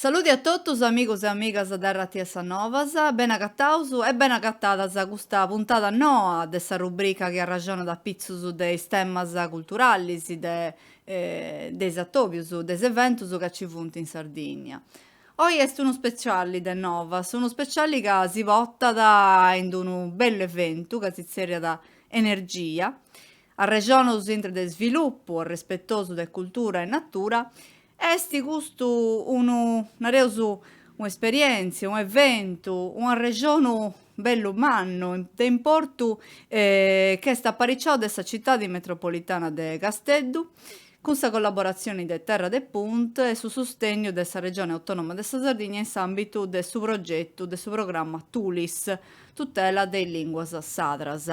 Saludi a totus amigos e amigas de Radiu X a Novas, bene agataus e bene agatadas a custa puntada noa de sa rubrica chi arraxonat apitzus de is temas culturalis de de is atòbius de is eventus ca ci funt in Sardìnnia. Oi est unu speciali de novas, unu speciali ca si portat in d'unu bellu eventu ca si tzèrriat Energia, arrexonus intre de svilupu arrespetosu de cultura e natura, e est custu unu, nareus, un'esperièntzia, un'eventu, un'arrexonu bellu mannu de importu ch'est apariciau de sa citadi metropolitana de Casteddu, cun sa collaboratzioni de Terra de Punt e su sustegnu de sa Regioni Autonoma de sa Sardigna in s'ambitu de su progetu de su programma Tulis, tutela de is linguas sardas.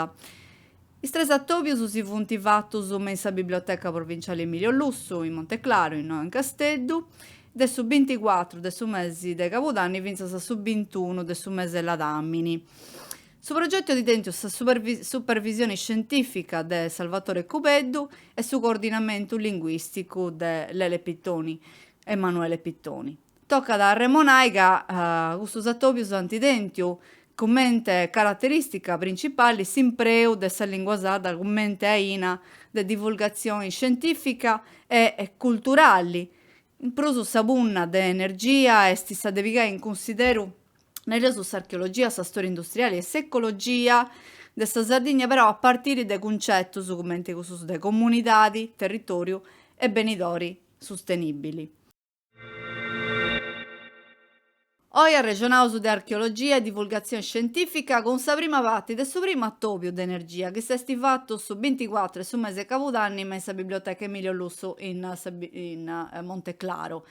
Is tres atòbius si funt fatus me in sa Biblioteca Provinciali Emilio Lussu, in Monteclaru, innoi in Casteddu, de su binticuatru de su mesi de cabudanni fintzas a su bintunu de su mese 'e ladàmini. Su progetu at tentu sa supervisioni scientìfica de Salvatore Cubeddu e su coordinamentu linguìsticu de Lele Pittoni, Emanuele Pittoni. Tocat a arremonai ca custus atòbius ant tentu cumente caraterìstica principali s'impreu de sa lìngua sarda cumente aina de divulgatzioni scientìfica e culturali. In prus sa punna de energia est sa de pigai in cunsideru, nareus, s'archeologia, sa stòria industriali e s'ecologia de sa Sardigna però a partiri de cuncetus cumente cussus de comunidadi, territòriu e benidori sustenìbili. Oi arrexonaus de archeologia e divulgatzioni scientìfica cun sa prima parti de su primu atòbiu de energia chi s'est fatu su binticuatru 'e su mese 'e cabudanni me in sa biblioteca Emilio Lussu in Monteclaru.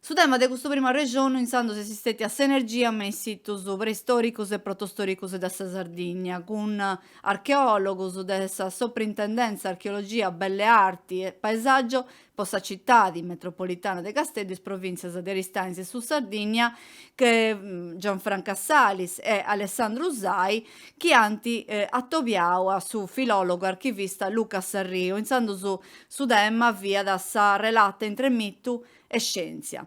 Su tema de custu primu arrexonu intzandus est stètia s'energia me is situs preistòricus e protostòricus de sa Sardigna, cun archeòlogus de sa Soprintendenza Archeologia, Belle Arti e Paesaggio po sa citadi metropolitana de Casteddu e is provìntzias de Aristanis e Sud Sardìnnia, Gianfranca Salis e Alessandro Usai, chi ant atobiau a su filòlogu archivista Luca Sarriu, intzandus su tema fiat sa relata intre mitu e scièntzia.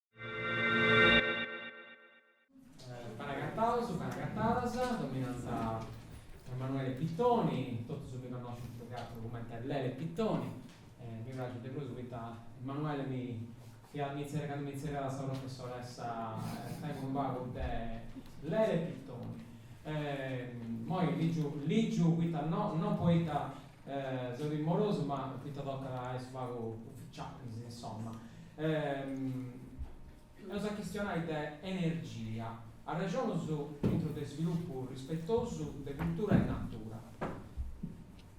Ben'agatados, ben'agatadas, deu mi nant Emanuele Pittoni, totus mi connoscint prus che ateru cumenti Lele Pittoni, mi praxit de prus poita Emanuele mi fiat mi tzerriat candu mi tzerriat sa professoressa tengu unu pagu de Lele Pittoni. Moi ligiu ligiu poita no non poita seu timorosu ma poita tocat a essi unu pagu ufficialis insomma eus a chistionai de energia arrexonus intro de svilupu rispetosu de cultura e natura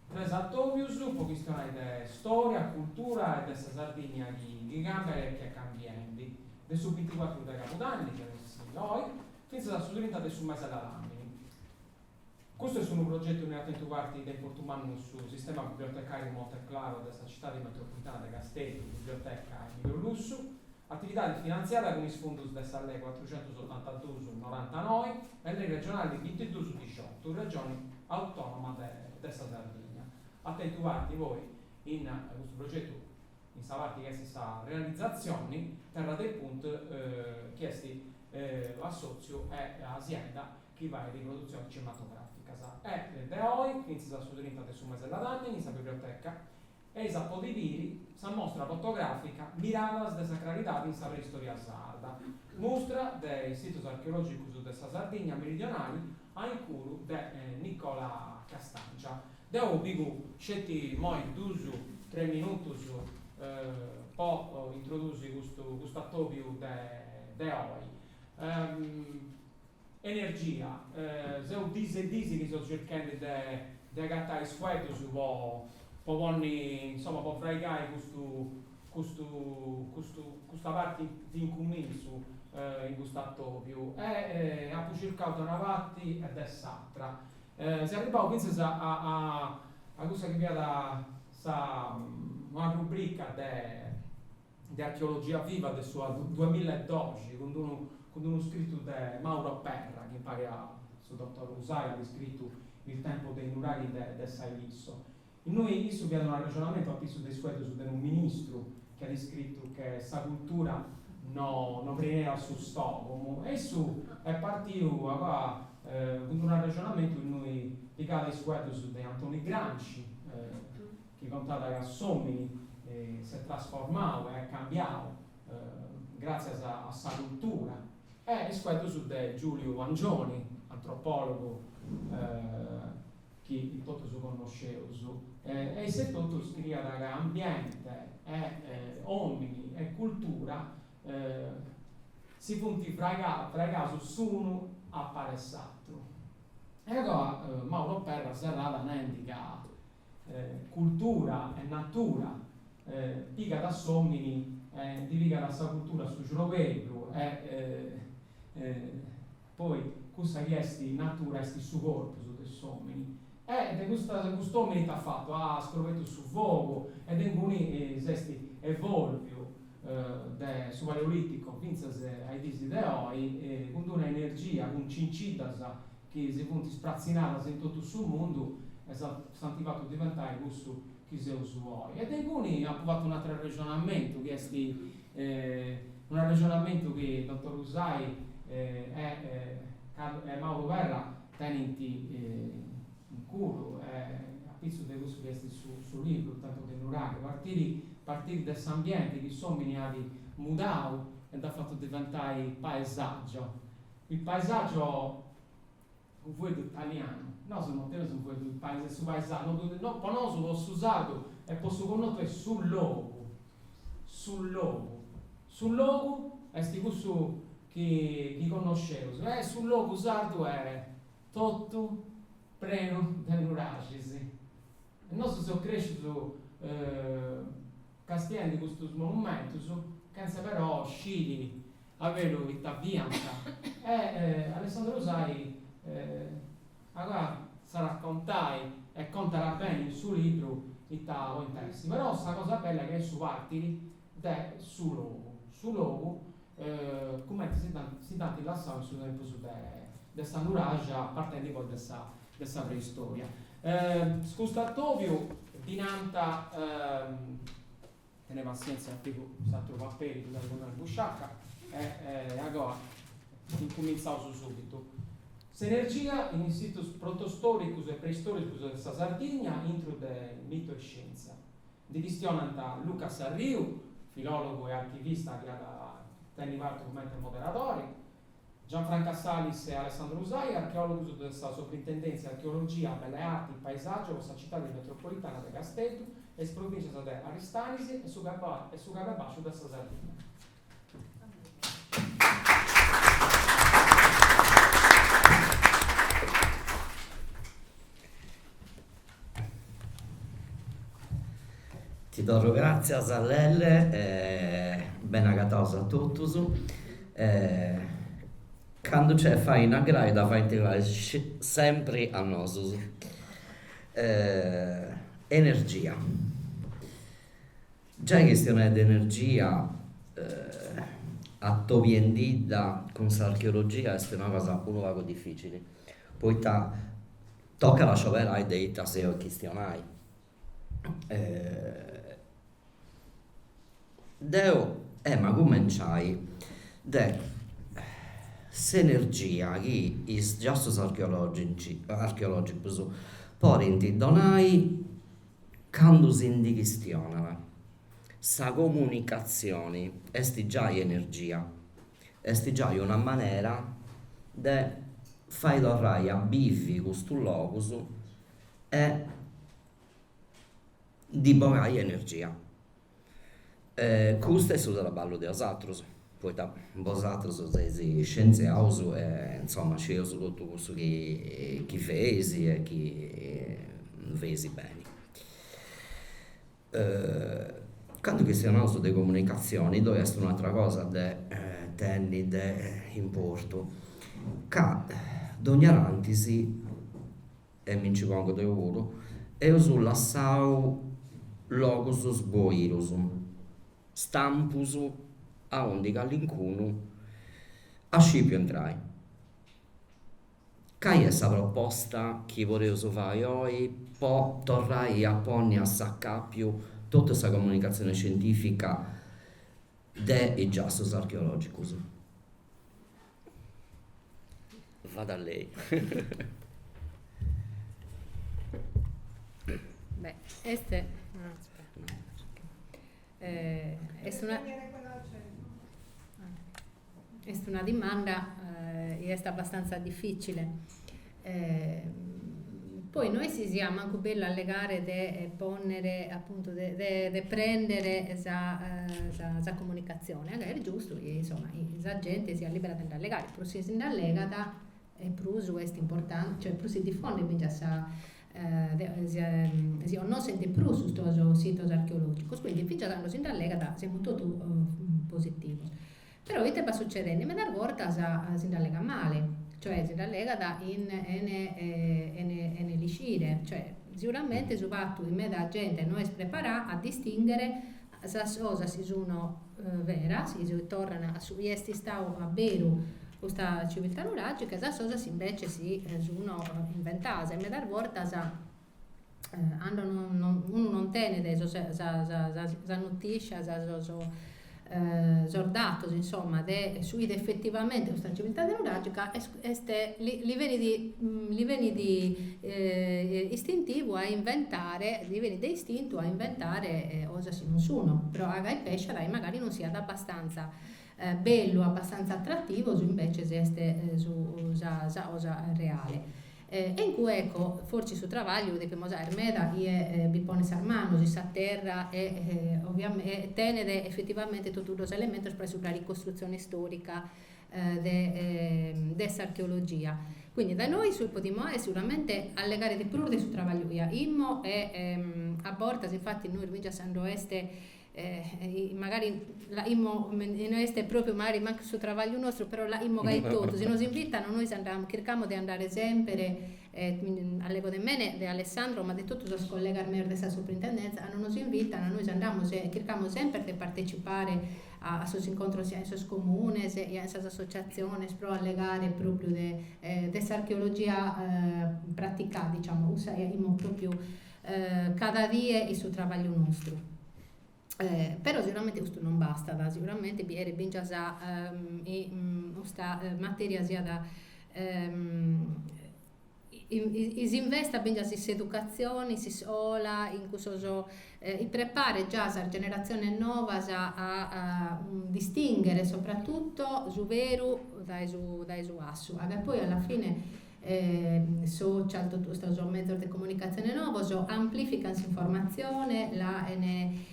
tres atobius po chistionai de storia cultura e de sa Sardigna chi chi cambiat e chi est cambiendi de su binticuatru de cabudanni chi est oi fintzas a su trinta de su mese de ladàmini Custu est unu progetu innui at tentu parti de importu mannu su sistema bibliotecàriu Monte Claro de sa Citadi Metropolitana de Casteddu, Biblioteca Emilio Lussu, atividadi finantziada cun is fundus de sa Lei cuatrucentus otantaduus norantanoi e Lei regionali bintiduus dixiotu, Regioni Autònoma de sa Sardigna, at tentu parti poi in custu progetu in sa parti chi est sa realizatzioni Terra de Punt chi est assòtziu e asienda chi fait produtziones cinematogràficas, e de oi fintzas a su trinta de su mese de ladàmini in sa biblioteca eis a podi biri sa mostra fotogràfica Miradas de sacralidade in sa preistòria sarda, mustra de is sitos archeològicos de sa Sardigna meridionale a incuru de Nicola Castangia. Deu pigu sceti imoi duus tres minutus po introdusi custu atòbiu de oi. Energia, seu dis e dis chi seu circhendi de de agatai is fueddus po po ponni insoma po fraigai custu custu custu custa parti de incumintzu in custu atobiu e apu circau de una parti e de s'atra e seu arribau finzas a a a cussa chi fiat sa una rubrica de de archeologia viva de su duamilla e doxi cun d'unu cun d'unu scritu de Mauro Perra chi impari a su dottor Usai at iscritu Il tempo dei nuraghi de de sa Ilisso. Innui issu faiat un arrexonamentu a pissu de is fueddus de unu ministru chi at iscritu che sa cultura no no preniat su stogomu e issu est partiu agoa cun d'unu arrexonamentu innui pigat is fueddus de Antoni Gramsci, chi contat ca s'òmini s'est trasformau e at cambiau gràtzias a sa cultura, e is fueddus de Giuliu Angioni, antropòlogu chi totus connosceus, e issu etotu scriiat ca ambiente e òmini e cultura si funt fraigaus s'unu a pari s'atru. E agoa Mauro Perra serrat nendi ca cultura e natura, pigat a s'òmini e ddi pigat a sa cultura su ciorbeddu e poi cussa chi est natura est su corpus de s'òmini e de cust'òmini ite at fatu? At scobertu su fogu e de inguni s'est evòlviu de su paleolìticu fintzas a is diis de oi cun d'una energia, cun cinciddas chi si funt ispratzinadas in totu su mundu e s'ant fatu diventai cussu chi seus oi. E de inguni apu fatu un'ateru arrexonamentu chi est un'arrexonamentu chi Dotor Usai e Mauro Perra tenint in coru e apitzus de cussu chi est su libru, Il tempo dei nuraghi, partiri partiri de s'ambienti chi s'omini at mudau e dd'at fatu diventai paesagio Il paesaggio Unu fueddu italianu Nosu no teneus unu fueddu de paise, su paesàgiu, no ddu no po nosu po su sardu e po su connotu est su logu, su logu, su logu est cussu chi chi connosceus e su logu sardu est totu prenu de nuraxis E nosu seus crèscius castiende custus monumentus chentza però sciri a beru ita fiant. E Alessandro Usai agoa s'at a contai e contat beni in su libru ita podint essi. Però sa cosa bella est su partiri de su logu. Su logu cumenti si dd'ant lassau in su tempus de is nuraxis, partendi poi de sa de sa preistoria. Custu atòbiu ddi nant, tenei passièntzia ca pigu s'àteru paperi ddu tengu innoi in busciaca, e agoa incumintzaus subitu, Sinergias in is situs protostòricus e preistòricus de sa Sardigna, intru de mitu e scièntzia. Ndi chistionant Luca Sarriu, filòlogu e archivista chi at a tenni parti cumenti moderadori, Gianfranca Salis e Alessandro Usai, archeòlogus de sa Sobrintendèntzia Archeologia, Belle Arti e Paesàgiu po sa citadi metropolitana de Casteddu e is provìncias de Aristanis e su Cababàsciu de sa Sardigna. Ti torru gràtzias Lelle e ben'agatados a totus. Candu nc'est faina grai dda faint sempri a nosus. Energia Giai chistionai de energia atobiendidda cun s'archeologia est una cosa unu pagu dificili, poita tocat a scioberai de ita seu a chistionai. Deu em'a cumenciai de s'energia chi is giassus archeologicus podint donai Candu si ndi chistionat, sa comunicatzioni est giai energia, est giai una manera de fai torrai a bivi custus logus e ndi bogai energia. E custu est su traballu de bosatrus, poita bosatrus seis scientziaus e insoma scieus totu cussu chi feis e chi non feis beni. Candu chistionaus de comunicatzioni ddoi est un'atera cosa de tenni de importu ca dogna tanti si e mi nci pongu deu puru, eus lassau logus sboirus, stampus, aundi callincunu at scipiu entrai. Cai est sa proposta chi podeus fai oi po torrai a ponni a s'acapiu totu sa comunicatzioni scientifica de is giassos archeològicos. Vada lei. Beh, est est una est una dimanda chi est abbastanza dificile poi no est chi siat mancu bellu allegare de pònnere apuntu de de de prèndere sa sa sa comunicatzione, ca est giustu chi insoma sa genti siat lìbera de nd'allegare, prus si nd'allegat e prus est importante cioè prus si difondet fintzas sa deu si connoschent de prus custos sitos archeològicos, quindi fintzas a cando si nd'allegat semus totu positivos Però ite b'at succedende? Medas bortas si nd'allegat male, cioè si nd'allegat in ene ene ene lixire, cioè siuramente su fatu chi meda gente no est preparada a distinghere sas cosas chi sun beras, chi si torran a su chi est istadu a beru custa civiltà nuragica e sas cosas chi invece si sun inventadas e medas bortas Cando unu non tenet sos sas notìscias, sos datos insoma de su chi fit effettivamente custa civiltà nuragica est li benit li benit istintivu a inventare, li benit de istintu a inventare cosas chi non sun. Però a gai pessat chi magari non siat abbastanza bellu, abbastanza attrativu, su invece est sa cosa reale. E in cue ecco fortzis su trabagliu depimus aer meda chie bi ponet sas manos in sa terra e tenet effettivamente totu sos elementos pro essi una ricostruzione istorica de s'archeologia. Quindi da nois su chi podimus aer seguramente allegare de prus de su trabagliu chi aimo e a bortas infatti nois fingias cando est magari l'aimo, e no est pròpriu magari mancu su trabagliu nostru, però l'aimo gai totu, si nos invitano nois andamus, chircamus de andare semper, allego de mene, de Alessandro, ma de totu sos collegas meus de sa Suprintendenza, cando nos invitano nois andamus e chircamus semper de partecipare a sos incontros sia in sos comunes, sia in sas associaziones pro allegare pròpriu de s'archeologia praticada, diciamo, cussa chi aimo pròpriu Cada die in su trabagliu nostru. Però seguramente custu non bastat, seguramente bi cheret fingias chi custa matèria siat, chi s'investat fingias in s'educatzione, in s'iscola, in cussos chi preparet già sas generatziones novas a distinghere soprattutto su beru dae su fassu ca poi alla fine social, totu custos mezos de comunicatzione novos amplifican s'informatzione, la 'ene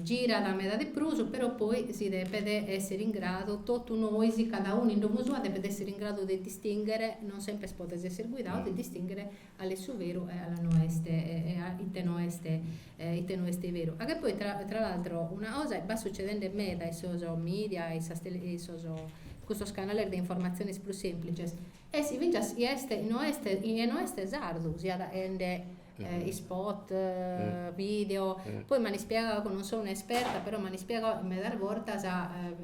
girare meda de prus, però poi si depet esser in gradu, totu nois, cada unu in domo sua, depet esser in gradu de distinghere, non sempre podes esser guidadu, de distinghere cale est su veru e cale no est e a ite no est Ite no est beru? A che poi tra tra l'altro una cosa b'at sucedende meda in sos media e in sas tele in sos custos canales de informatziones prus semplices est chi fintzas chie est no est chie no est sardu si at 'ende ispot video poi m'an ispiegadu chi non so un'esperta però m'an ispiegadu medas bortas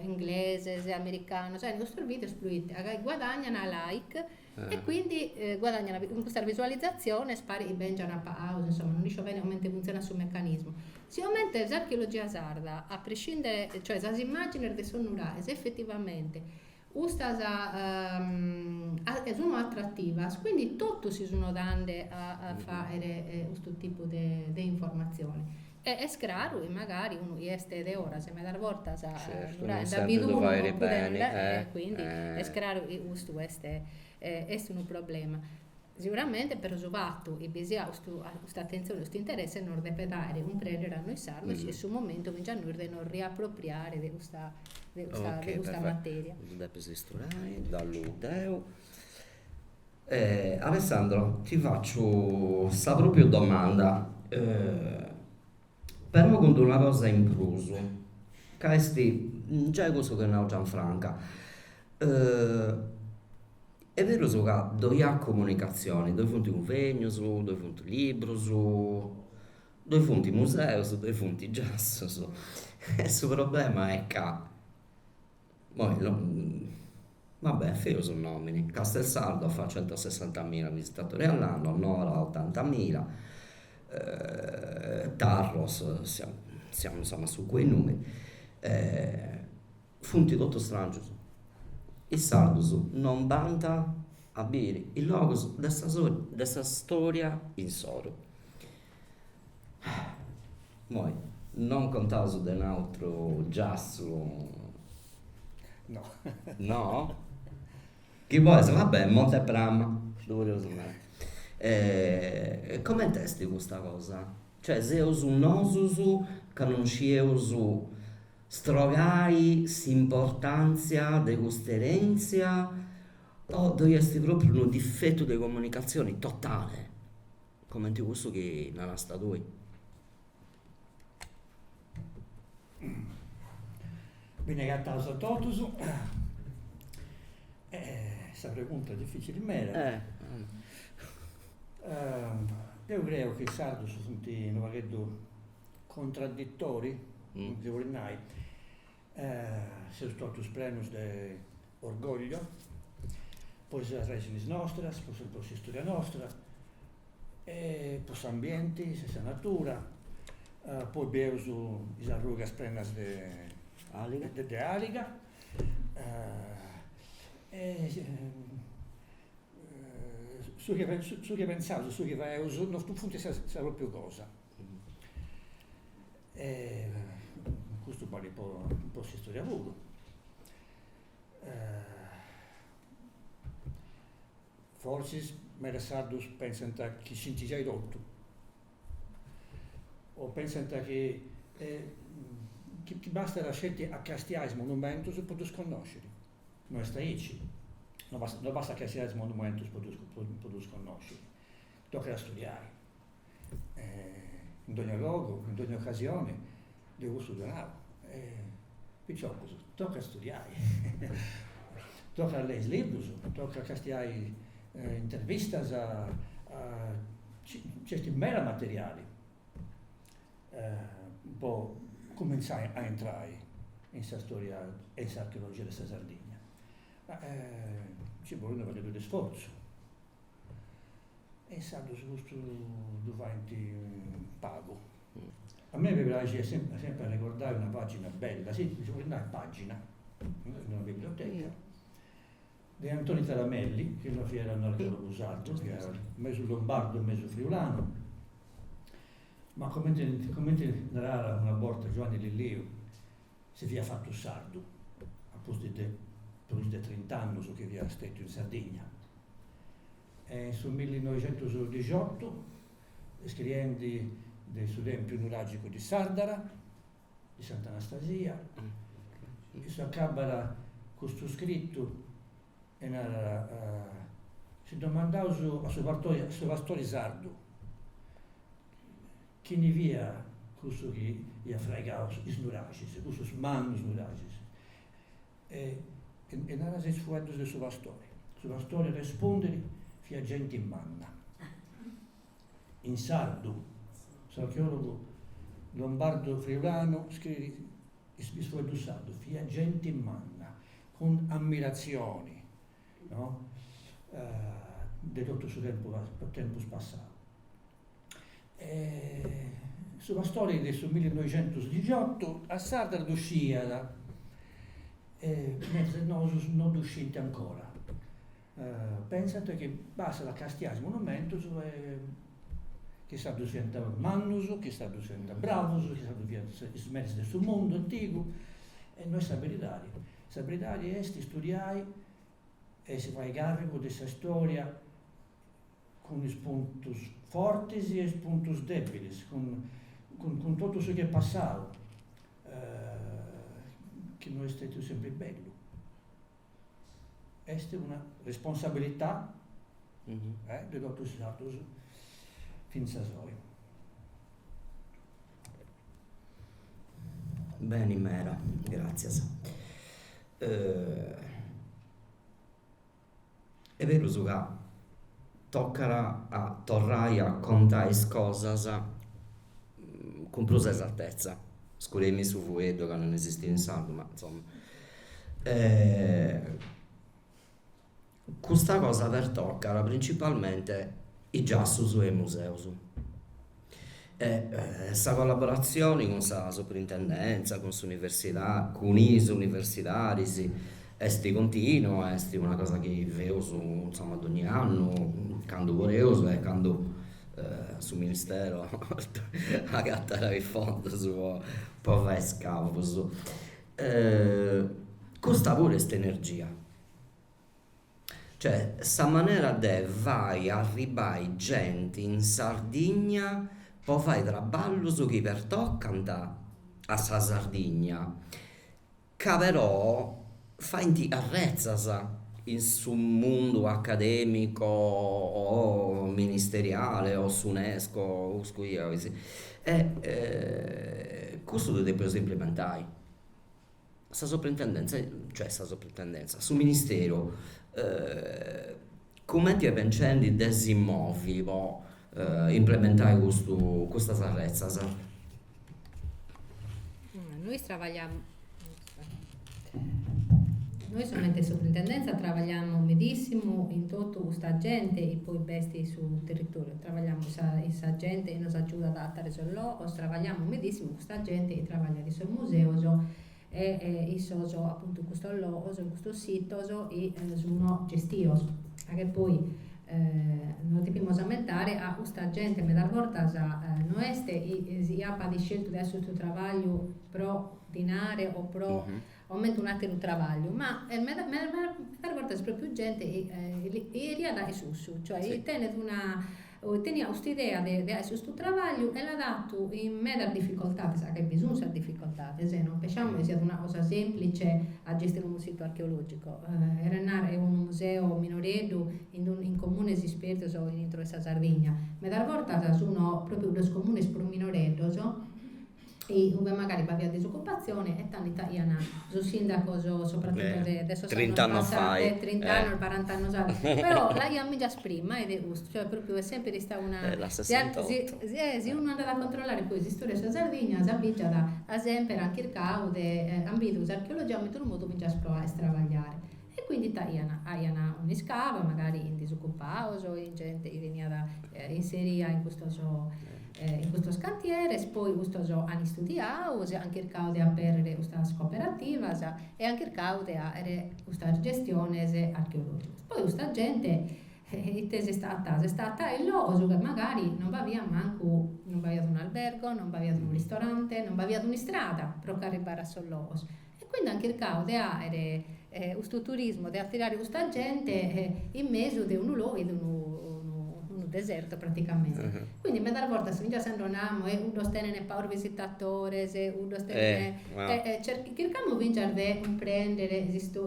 ingleses americanos 'ene custos videos proite a gai guadagnana like E quindi guadagnano cun custas visualizatziones, parit chi bèngiant pagaus, insoma, non isco bene comente funtzionat su mecanismu. Sicomente s'archeologia sarda, a prescindere, cioè sas immàgines de sos nuraes, effettivamente, custas sun attrativas, quindi totu si sun ghetande a fàghere custu tipu de informazione. E est craru chi magari unu chi est de foras medas bortas non sempri ddu fait beni, e quindi est craru chi custu est est unu problema. Seguramente però su fatu chi bi siat custu custa atentzioni, custu interessi nos depet fàghere cumprendere a nois sardos chi est su momentu finzas a nois de nos riapropriare de custa de custa materia. E Alessandro ti fatzu sa propriu domanda però cun d'una cosa in prus ca est giai cussu chi at nau Gianfranca est berus ca ddoi at comunicazioni, ddoi funt cunvegnos, ddoi funt libros, ddoi funt museos, ddoi funt giassos e su problema est ca Moi no. Va bene, feus nòminis. Castelsardo fat centosessantamila visitatori all'anno, Nora ottantamila, Tarros siamo insomma su quei numeri, funt totus strangius. Is sardus non bant a biri is logus de sa de sa storia insoru. Moi, non contaus de un'atru giassu? No. No? Chi bois, va bè, Monte Prama. Ddu podiaus nai. E comente est custa cosa? Cioè seus nosus ca non scieus strogai s'importàntzia de custa erèntzia o ddoi est pròpriu unu difetu de comunicatzioni totale? Comenti cussu chi narasta tui. Beni agataus a totus. Sa pregunta est dificili meda. Deu creu chi is sardus funt unu pagheddu contraditori, si podit nai, Seus totus prenus de orgoglio po is arrèxinis nostras, po s'istòria nostra e po s'ambienti, sa natura, poi bieus is arrugas prenas de àliga e su chi su chi pentzaus e su chi faeus non funt sa sa propriu cosa E custu balet po po s'istòria puru. Forsis medas sardus pensant chi scint giai totu, o pensant chi chi bastat sceti a castiai is monumentus po ddus connosciri. No est aici, no bastat no bastat castiai is monumentus po ddus po ddus connosciri, tocat a studiai in dogna logu, in dogna ocasioni de custu ddu nau. Piciocus, tocat studiai, tocat a lei is librus, tocat castiai intervistas, nc'est meda materiali po cumintzai a intrai in sa storia e in s'archeologia de sa Sardigna. Ma nci bolit unu pagheddu de sforzu E insados custu ddu faint pagu. A mei mi praxit sempri arregordai una pàgina bella, si, ddi podis nai pàgina, in una biblioteca, de Antoni Taramelli, chi non fiat un'archeòlogu sardu, fiat mesu lombardu e mesu friulanu, ma comente comente narat una borta Giuanni Lilliu, si fiat fatu sardu apustis de prus de trint'annus chi fiat stetiu in Sardigna e in su millinoixentusdixiotu, iscriendi de su Tempiu nuragicu de Sardara, de Sant'Anastasia, issu acabat custu scritu e narat, si ddomandaus a su pastori sardu, Chini fia cussu chi iat fraigau is nuraxis, cussus mannus nuraxis? E narat is fueddus de su pastori. Su pastori respondit, Fia genti manna. In sardu, s'archeòlogu lombardu friulanu scriit, is fueddus sardus, fia genti manna, cun ammiratzioni no de totu su tempus passau. E su pastori de su millinoixentosdigiottu a Sardara ddu sciiat e medas sardus no ddu scinti ancora, pensant chi bastat a castiai is monumentus e chi is sardus fiant mannus, chi is sardus fiant bravus, chi is sardus fiant is meris de su mundu antigu e no est sa beridadi Sa beridadi est istudiai e si fai càrrigu de sa istòria cun is puntus fortis e is puntus dèbilis, cun cun totu su chi est passau, chi no est stètiu sempri bellu. Est una responsabilità de totus is sardus fintzas oi. Beni meda, gràtzias. Est berus ca tocat a torrai a contai is cosas cun prus esatezza, scusai-mì su fueddu ca non esistit in sardu ma insoma Custa cosa pertocat principalmente is giassus e is museus. Sa collaboratzioni cun sa Suprintendèntzia, cun s'universidadi, cun is universidadis est continua, est una cosa chi feus insoma dogni annu, candu podeus e candu su ministero agatat is fondus po fai is scavus. Custa puru est energia Cioè sa manera de fai arribbai genti in Sardigna po fai traballus chi pertocant a sa Sardigna ca però faint arretzas in su mundu academico o ministeriale o s'UNESCO o su chi 'olis e cussu ddu depius implementai. sa soprintendèntzia, cioè sa soprintendèntzia, su ministeru cumenti est pensendi de si movi po implementai custu custas arretzas? Nois trabagliamus, nois comente soprintendèntzia trabagliamus medissimu chin totu custa genti chi poi b'est in su territoriu, trabagliamus chin sa genti chi nos agiudat a ateri sos logos, trabagliamus medissimu sa genti chi trabagliat in sos museos e in sos apuntu custos logos e custos sitos chi sun gestios ca che poi nos depimus ammentare ca custa genti medas bortas no est chi si apat isceltu de 'àere custu trabagliu pro dinare o pro comente un'ateru trabagliu ma medas medas bortas est propriu genti chi cheriat 'àere cussu cioè chi tenet una Teniat custa idea de 'àere custu trabagliu e l'at 'atu chin medas dificoltades, ca bi sun sas dificoltades, non pensciamus chi siat una cosa semplice a gestire unu situ archeologico, cheret narrer unu museo minoreddu in comunes ispertos intro 'e sa Sardigna, medas bortas sun propriu sos comunes prus minoreddos ue magari b'aviat disocupatzione e tando ita 'aian sos sindacos sopratuto de de sos annos passat trint'annos barant'annos annos però l'aian mìgias prima e de custu cioè propriu est sempre istadu una si unu andat a controllare poi s'istorìa de sa Sardigna sa mìgia at semper chircadu de an bidu s'archeologia comente unu modu mìgias pro 'àere trabagliare E quindi t'aian, aian un'iscavu, magari chin disocupados o chin gente chi veniat inseria in custos in custos cantieres, poi custos an istudiadu, si an chircadu de aperrere custas cooperativas e an chircadu de àere custas gestiones archeologicas. Poi custa gente ite s'est agatadu? S'est agatadu in logos chi magari non b'aviat mancu, non b'aiat un'albergo, non b'aviat unu ristorante, non b'aviat un'istrada pro ch'arribbare a sos logos E quindi an chircau de àere custu turismu, de atirare custa gente in mesu de unu logu chi est unu desertu praticamente. Quindi medas bortas finzas cando namus, e cuddos tenent pagos visitatores, cuddos tenent, chircamus finzas de cumprender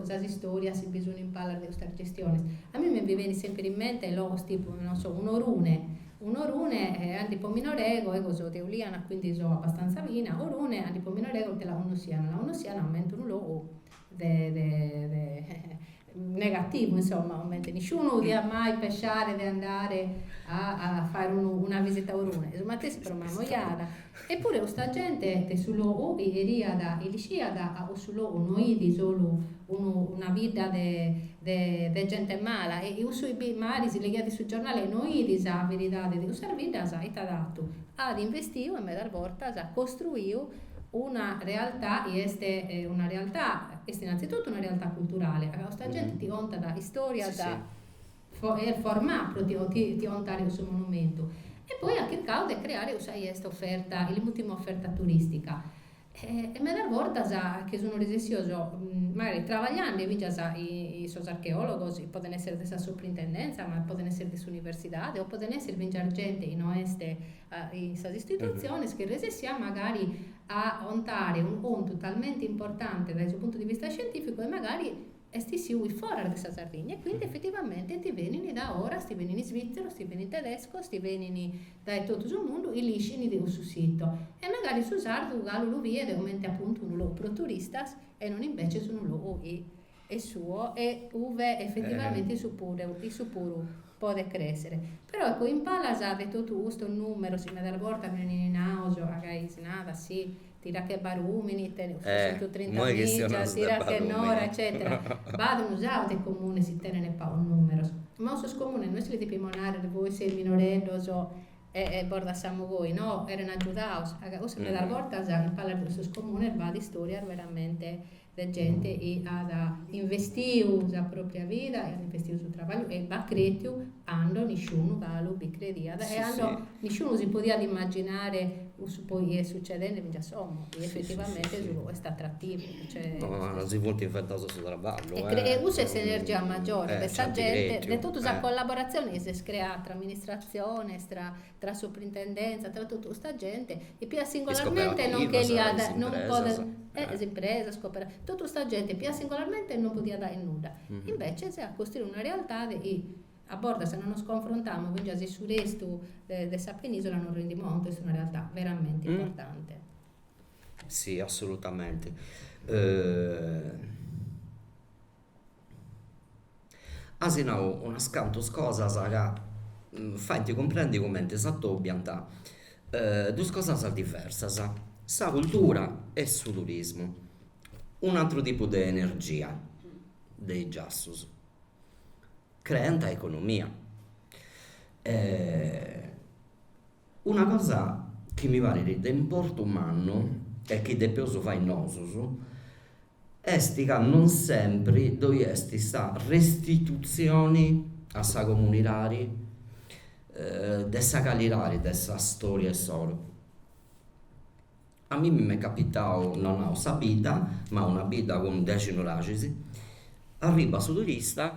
sas istorias chi bi sun in palas de custas gestiones. A mimi mi benit sempre in mente logos tipu, non so, un'Orune Un'Orune cand'ipo minore ego, ego so de Uliana quindi so abastanza vichina, Orune cand'ipo minore ego che la connossiana, la connossiana comente unu logu de de de negativu insomma, comente nisciunu diat mai pessare de andare a a fàere unu una visita a Orune, su matessi pro Mamojada Eppure custa gente de su logu chi cheriat e l'ischiat ca cussu logu no idi solu unu una bidda de de de gente mala e cussu chi magari si leghiat in su giornale e no idi sa veridade de cussas biddas ite at fatu, at investiu e medas bortas at costruiu una realtà chi est una realtà est innanzitutto una realtà culturale ca custa gente ti contat istorias formà pro ti ontare su monumentu e poi at chircadu de creare cussa chi est oferta, ill'ultima oferta turistica e medas bortas che sun resessios mancari travagliande fingias chin sos archeologos poden essere de sa suprintendenza ma poden essere de s'universidade o poden essere fingias gente chi no est in sas istitutziones che resessiat magari a ontare unu contu talmente importante dae su puntu di vista scientifico e mancari Est issiu in foras de sa Sardigna e quindi effettivamente ti benini dae foras, ti benini svizzeros, ti benini tedescos, ti benini dae totu su mundu, chi l'ischini de cussu sito. E magari su sardu galu lu biet comente appuntu unu logu pro turistas e non invece unu logu chi est suo e uve effettivamente issu puru podet crèsere. Però ecco, in palas de totu custos nùmeros, chi medas bortas benin naos, agai si narat, si, tira che Barùmini, tenet seiscentus trinta mìgias, tira che Nora, eccètera, b'at unu sacu de comunes chi tenent pagos nùmeros. Ma cussos comunes no est chi lis depimus nàrrere, vois seis minoreddos e bos dassamus goi, no, cherent agiudaus. Cussu medas bortas in palas de cussos comunes b'at istòrias veramente de gente chi at investiu sa pròpria vida, chi at investiu su traballu e b'at cretiu cando nisciunu galu bi crediat e cando nisciunu si podiat imaginare cussu poi chi est sucedende fintzas como, chi effetivamente est atrativu. Si funt inventados su traballu. E cussa est s'energia magiore de sa gente, de totu sa collaboratzione chi s'est creada tra amministratziones, tra tra soprintendèntzia, tra totu custa gente, chi pigada singolarmente non cheliat, non podet, is impresas, totu custa gente pigada singolarmente non podiat fai nudda. Invece s'est costruida una realtadi chi a bortas si non nos confrontamus fingias in su restu de sa penisola non rendimus contu chi est una realtà veramente importante. Sì, assolutamente. As nau unas cantu cosas ca faint cumprendi cumenti s'atobiant duas cosas diversas, sa cultura e su turismu, un'aturu tipu de energia de is giassus. Creant economia. Una cosa chi mi parit de importu mannu e chi depeus fai nosus est ca non sempri ddoi est sa restitutzioni a sa comunidadi de sa calidadi de sa storia issoro. A mimmi m'est capitau, no nau sa bidda, ma una bidda cun dexi nuraxis, arribat su turista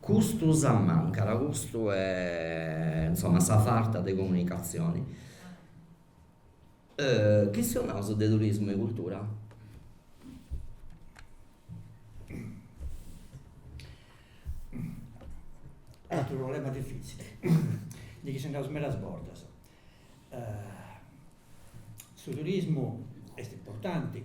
Custu sa mancada, custu e insoma sa farta de comunicatzioni. Chistionaus de turismu e cultura. Ateru problema difitzili, ndi chistionaus medas bortas. Su turismu est importanti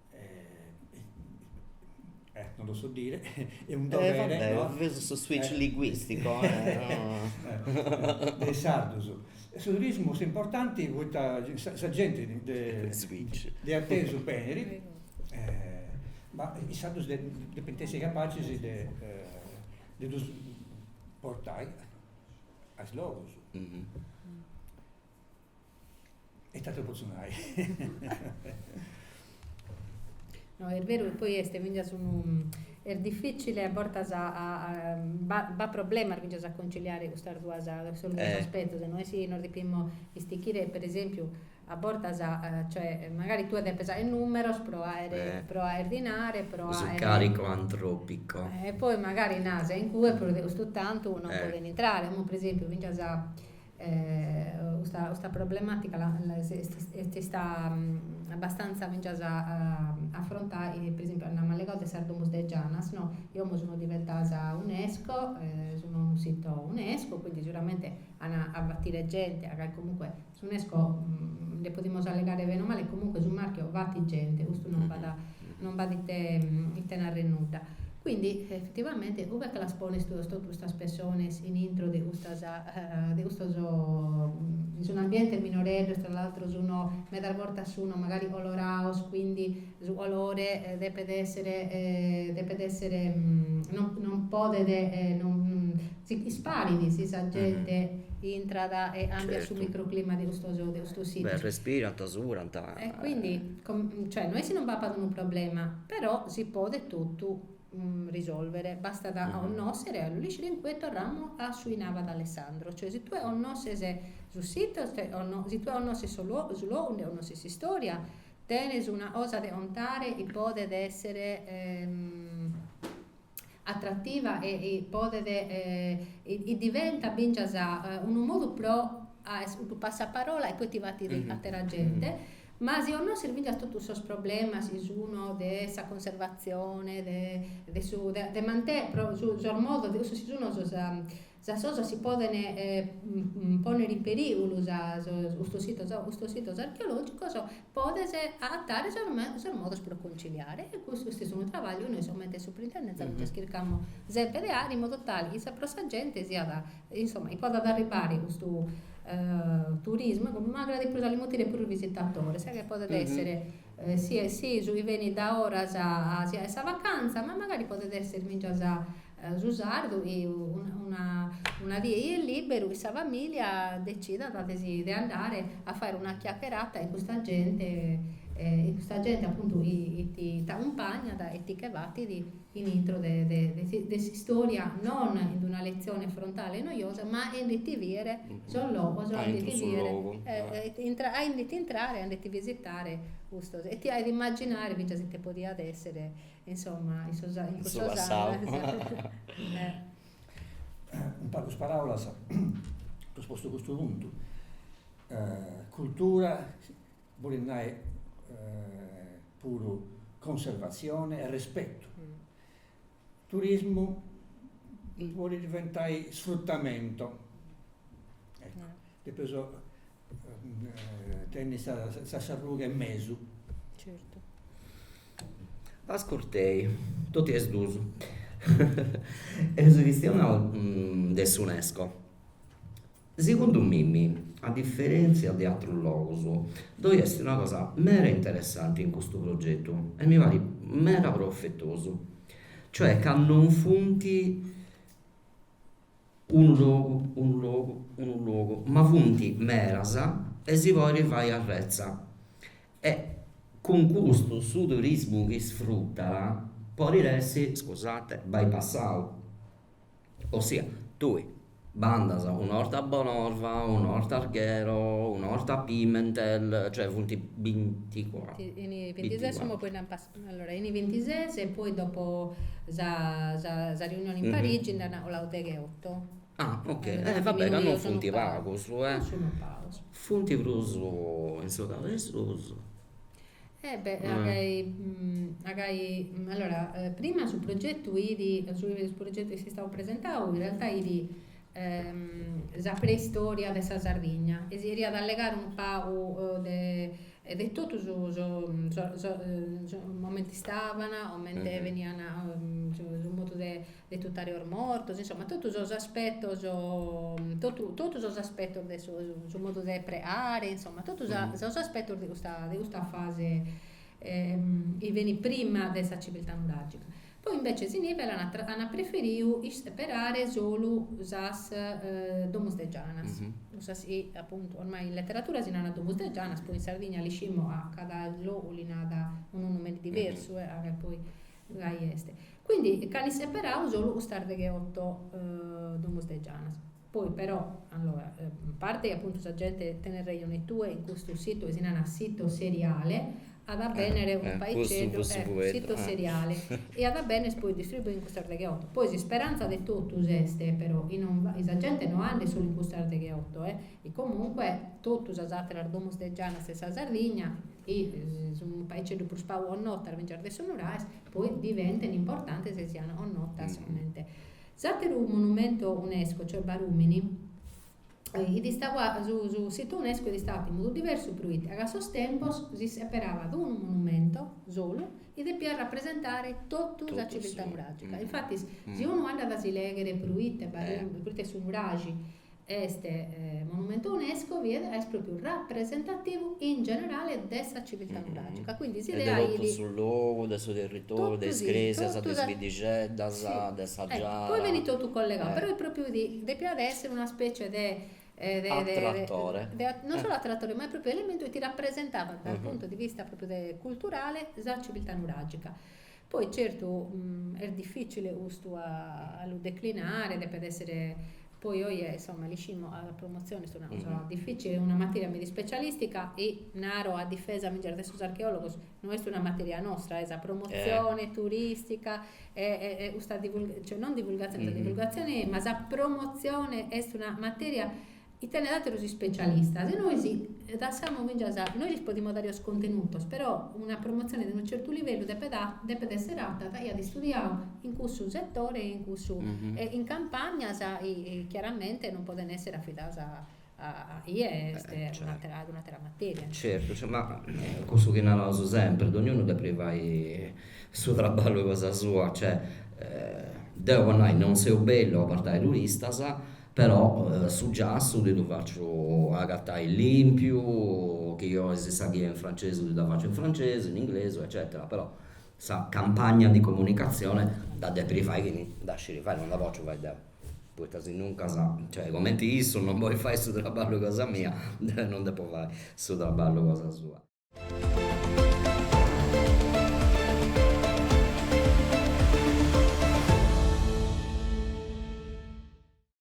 non lo so dire, è un dovere... E vabbè, ho preso su switch linguistico. De is sardos. Su turismu est importanti poita sa genti de atesu benit, ma is sardos depint essi capacis de ddus portai a is logus. E ite atru potzu nai? No, est beru chi poi est fintzas unu, est dificili a bortas a b'at problemas fintzas a conciliare custas duas, custos duos aspetos, no est chi nos depimus istichire, per esempiu, a bortas, cioè, magari tue depes aer numeros pro aer pro aer dinari, pro aer. Su carico antropico. E poi magari nas in cue prus de custu tantu non podent intrare, como per esempiu fintzas Custa problemàtica est ista abbastanza fintzas a afrontai, per esempiu, amus allegau de sas domos de Janas, no, chi como sun diventas Unesco, sun unu sito Unesco, quindi seguramente an a batire gente, agai comunque s'Unesco nde podimus allegare bene o male, comunque su marchio batit gente, custu non b'at non b'at ite ite narrer nudda. Quindi effettivamente ue che las pones tue totu custas pessones in intro de custas de custos sun ambientes minoreddos tra l'altro sun medas bortas sun magari colorados quindi su colore depet esser depet esser non non podet non si isparit si sa gente intrat e càmbiat su microclima de custos de custos sitos. Beh respirant, surant. E quindi Cioè, no est chi non b'apat unu problema, però si podet totu risolvere, bastat a connòschere e a lu lìgere in cue torramu a su chi narat Alessandro, cioè si tue connòsches su situ, si tue connòsches su su logu nde connòsches s'istòria, tenes una cosa de contare chi podet èssere atrativa e podet e diventat fintzas unu modu pro a est unu passaparola e poi ti batit àtera gente, ma si 'onnosches fintzas totus sos problemas chi sun de sa conservatzione, de su de mantè pro su sos modos, de cussos chi sun sos sas cosas chi podent pònnere in perìgulu, sas custos sitos custos sitos archeològicos, podes agatare sos me sos modos pro conciliare e custu est unu trabagliu nois comente suprintendentza nde chircamus semper de aer in modu tale chi sa pro sa gente siat insoma chi podat arribare custu turismu, magari de prus a lis mutire puru visitadores, e podet esser Si est si su chi benit dae foras si ait sa vacanza, ma magari podet esser fintzas su sardu chi una die chi est lìberu chin sa famìlia decidat de si de andare a fàere una chiacherata chin custa gente, chin custa gente apuntu chi ti t'acumpagnat e ti nche batit in intro de de s'istòria, non in una letzione frontale e noiosa, ma aende·ti bìere sos logos, aende·ti bìere, intra, aende·ti intrare, aende·ti visitare custos, e ti ait imaginare fintzas ite podiat èssere, insomma, in sos in cussos annos. In pagas paràulas, apo postu custu puntu, cultura bolit nai puru conservatzioni e respetu. Turismu podit diventai sfrutamento, depeus tenni sa carruga in mesu. Ascurtei, totu is dus, eus chistionau de s'Unesco Segundu mimi, a diferèntzia de atrus logus, ddoi est una cosa meda interessanti in custu progetu e mi parit meda profetosu, cioè ca non funt unu logu, unu logu, unu logu, ma funt medas e si podit fai arretza e cun custu su turismu chi isfrutat podit essi, scusate, bypassau Ossia, tui bandas un'orta a Bonorva, un'orta a Arghero, un'orta a Pimentel, cioè funt binti cuatru. Chi in is bintises imoi poi nd'ant passau, allora in is bintises e poi dopo sa sa riunioni in Parigi nd'ant colau degheotu. Ah ok, e va bene, ca non funt pagus. Non sunu pagus. Funt prus in su Cabu de Susu Eh beh, agai, agai, allora, prima su progetu 'idi, su progetu chi est istau presentau, in realtà 'idi sa preistoria de sa Sardigna e si 'eriat allegare unu pagu de de totu su su su 'omente istavan, 'omente benian su modu de de tutare sos mortos, insoma totu sos aspetos, totu totu sos aspetos de su su modu de preare, insoma totu sa sos aspetos de custa de custa fase chi benit prima de sa civiltà nuragica. Poi invece si nivelan at an preferiu isseperare solu sas domus de gianas, cussas chi appuntu ormai in letteratura si narat domus de gianas, poi in Sardigna l'ischimus a cada logu li narat unu nomene diversu e poi gai est. Quindi ch'ant seperau solu custas deghe oto domus de Gianas. Poi però, allora, a parte chi apuntu sa gente tenes rejone tue in custu situ chi si narat Sito Seriale, at a benner unu paixeddu, Sito Seriale, e at a benner poi distribuia in custas deghe oto. Poi s'isperanza de totus est però chi non chi sa gente no andet solu in custas deghe oto, chi comunque totu sas ateras domus de Gianas 'e sa Sardigna, chi sunt paiceddu prus pagu connotas fintzas de sos nuraes, poi diventent importantes e siant connotas comente. S'àteru monumentu UNESCO, cioè Barumini, su situ UNESCO est istau fatu in modu diversu proite a sos tempos si seperavat unu monumentu solu chi depiat rapresentare totu sa civiltà nuràgica. Infatis, si unu andat a si lèghere proite su Nuraxi Est monumentu unesco fiat ca est pròpiu rapresentativu in generale de sa civiltà nuràgica, quindi si leaiat. E de totu su logu, de su territoriu, de is cresias, de is biddixeddas, de sa Giara. Eccu, poi benit totu collegau, però est pròpiu chi depiat èssere una specie de Atratore. Non solu atratore, ma est pròpiu elementu chi ti rapresentavat dal punto di vista pròpiu de culturale sa civiltà nuràgica. Poi certu est dificile custu a lu declinare,, depet essere poi oje insomma l'ischimus sa promozione est una cosa difficile, est una materia meda ispecialistica e naro a difesa mea e de sos archeologos, no est una materia nostra, sa promozione turistica e e custa cioè non divulgazione, sa divulgazione eja ma sa promozione est una materia chi tenet àterus ispecialistas e nois lassamus fintzas, nois lis podimus dare sos contenutos, però una promotzione de unu certu livellu depet depet èssere fata dae chie at istudiadu in cussu setore e in cussu e in campagnas chiaramente non podent èssere afidadas a a a chie est un'atera un'atera materia. Certu, ce ma cussu chi naraus sempri, dognunu depit fai su traballu cosa sua, cioè deu po nai non seu bellu a portai turistas Però su giassu ddi ddu faciu agatai lìmpiu, chi ois sa ghia in francesi ddi dda faciu in francesi, in inglesu eccetera. Però sa campagna di comunicazione dda depit fai chi dda scit fai, non dda potziu fai deu. Poita si nuncas, cioè cumenti issu non podit fai su traballu cosa mia, deu non depu fai su traballu cosa sua.